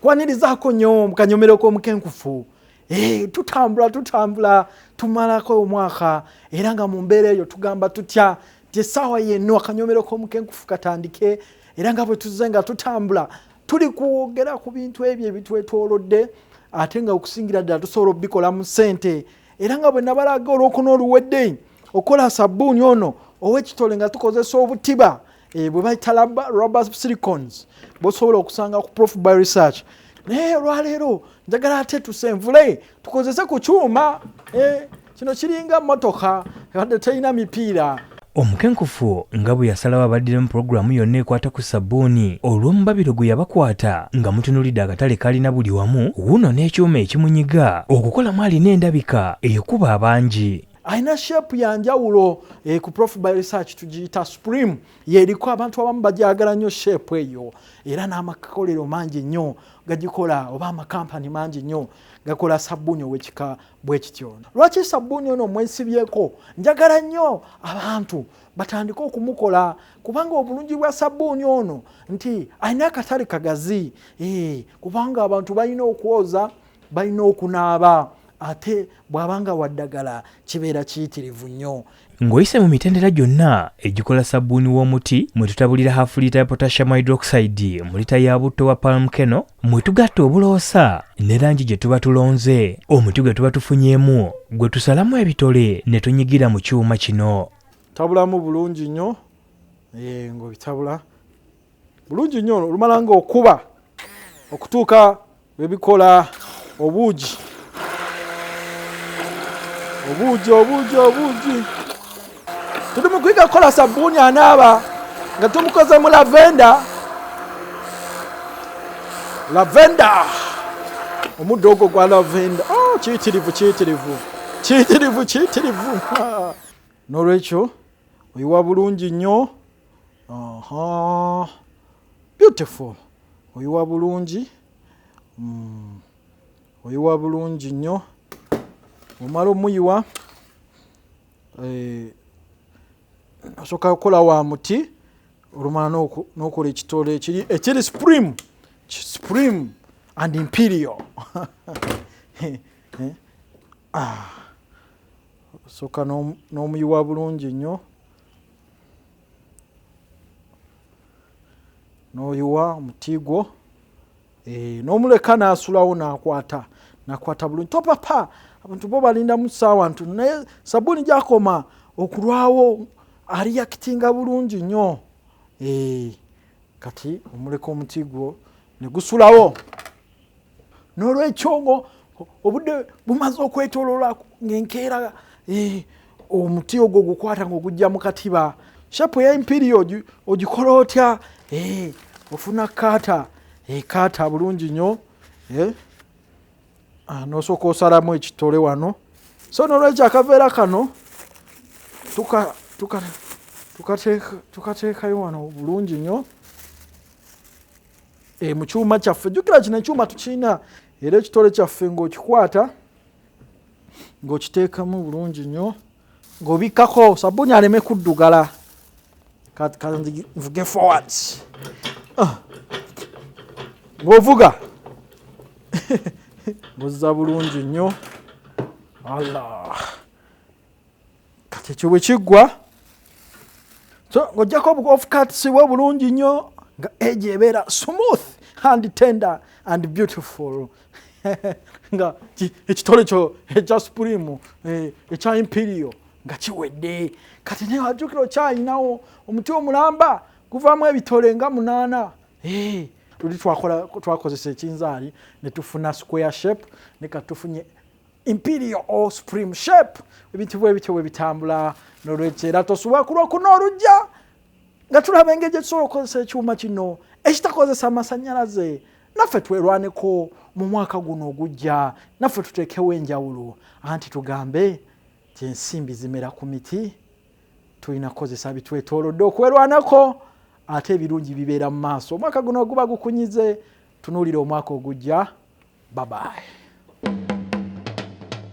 kwanirizaako nyo mukanyomero k'omukenkufu eh, tutambula tutambula tumalako omwaka era nga mu mbeera eyo tugamba tutya ti essaawa yenno akanyomero k'omukenkufu katandike era nga bwe tuzze nga tutambula tuli kwogera ku bintu ebyo ebitwetoolodde ate nga okusingira ddala tusobola obikola mu sente era nga bwe nabalaga olwokuna oluwedde okola sabbuuni ono owekitole nga tukozesa obutiba eh, bwe bayita rober silicons bosobola okusanga ku prof by research naye olwaleero njagala ate tusenvule tukozese ku kyuma eh, kino kiringa motoka ebadde terina mipiira omukenkufu nga bwe yasalawo abaddira mu pulogulaamu yonna ekwata ku sabbuuni olw'omubabiro gwe yabakwata nga mutunulidde akatale kalina buli wamu wuno n'ekyuma ekimunyiga okukolamu alina endabika ekuba abangi alina shepu ya njawulo eh, ku prof by research tugiyita supreme yeriko abantu abamu bagyagala nnyo shepu eyo era n'amakolero mangi nnyo gagikola oba amakampani mangi nnyo gakola sabbuuni owekika bwe kityo ono lwaki sabbuuni ono mwesibyeko njagala nnyo abantu batandike okumukola kubanga obulungi bwa sabbuuni ono nti alina akatale kagazi eh, kubanga abantu balina okwoza balina okunaaba ate bw'abanga waddagala kibeera kiyitirivu nnyo Ng'oyise mu mitendera gyonna egikola sabbuuni w'omuti mwe tutabulira hafu liita ya potassium hydroxide mu liita ya butto wa palm keno mwe tugatta obuloosa ne langi gye tuba tulonze omuti gwe tuba tufunyeemu gwe tusalamu ebitole ne tunyigira mu kyuma kino. Tabulamu bulungi nnyo eh, ng'obitabula. bulungi nnyo olumala nga okuba okutuuka webikola obuugi obuugi obuugi obuugi tuli mu kuyiga kukola sabbuuni anaaba nga tumukoze mu lavenda lavenda omuddo ogwo gwa lavenda oh, kiyitirivu kiyitirivu kiyitirivu kiyitirivu n'olwekyo oyiwa bulungi nnyo Aha. Beautiful. Oyiwa bulungi. Mm. Oyiwa bulungi nnyo. Omala omuyiwa. Eh, asoka kukola wa muti olumala nokola ekitole ekiri ekiri supreme supreme and imperial eh? Ah, soka n'omuyiwa bulungi nnyo n'oyiwa omuti gwo eh, n'omuleka n'asulawo n'akwata nakwata bulungi topapa abantu bo balindamu saawa ntu naye sabuuni gyakoma okulwawo aliyakitinga bulungi nnyo eh, kati omuleka omuti gwo ne gusulawo nolwekyo ngo obudde bumaze okwetolola ngenkeera eh, omuti ogwo gukwata nga ogujja mu katiba shapu eya imperio ogikola otya eh, ofuna kaata ekaata eh, bulungi nyo ah, nosooka osalamu ekitole wano so nolwekyo akaveera kano tukateekayo wano bulungi nyo e, mu kyuma kyaffe jukira kino ekyuma tukirina era ekitole kyaffe ng'okikwata ng'okiteekamu bulungi nnyo ng'obikkako sabbuuni aleme kuddugala kanvuge forward ah. ng'ovuga ng'ozza bulungi nnyo allah kati ekyo bwe kiggwa so ng'ojjako obukofukatisiwa obulungi nnyo nga egyo ebeera smooth and tender and beautiful nga ekitole kyo ekya supreme eh, ekya imperial nga kiwedde kati naye wajjukira okyalinawo omuti omulamba guvaamu ebitole nga munaana eh, luli twakozesa ekinzaali ne tufuna square shape ne katufunye imperial or supreme shape ebintu bwe bityo bwe bitambula nolwekyo era tosubwa ku lwokuna olujja nga tulaba engeri gye tusobola okukozesa ekyuma kino ekitakozesa amasannyalaze naffe twerwaneko mu mwaka guno ogujja naffe tuteekewo enjawulo anti tugambe ti ensimbi zimera ku miti tulina kukozesa bitwetoolodde okwerwanako ate ebirungi bibeera mu maaso omwaka guno oguba gukunyize tunuulira omwaka ogujja babaye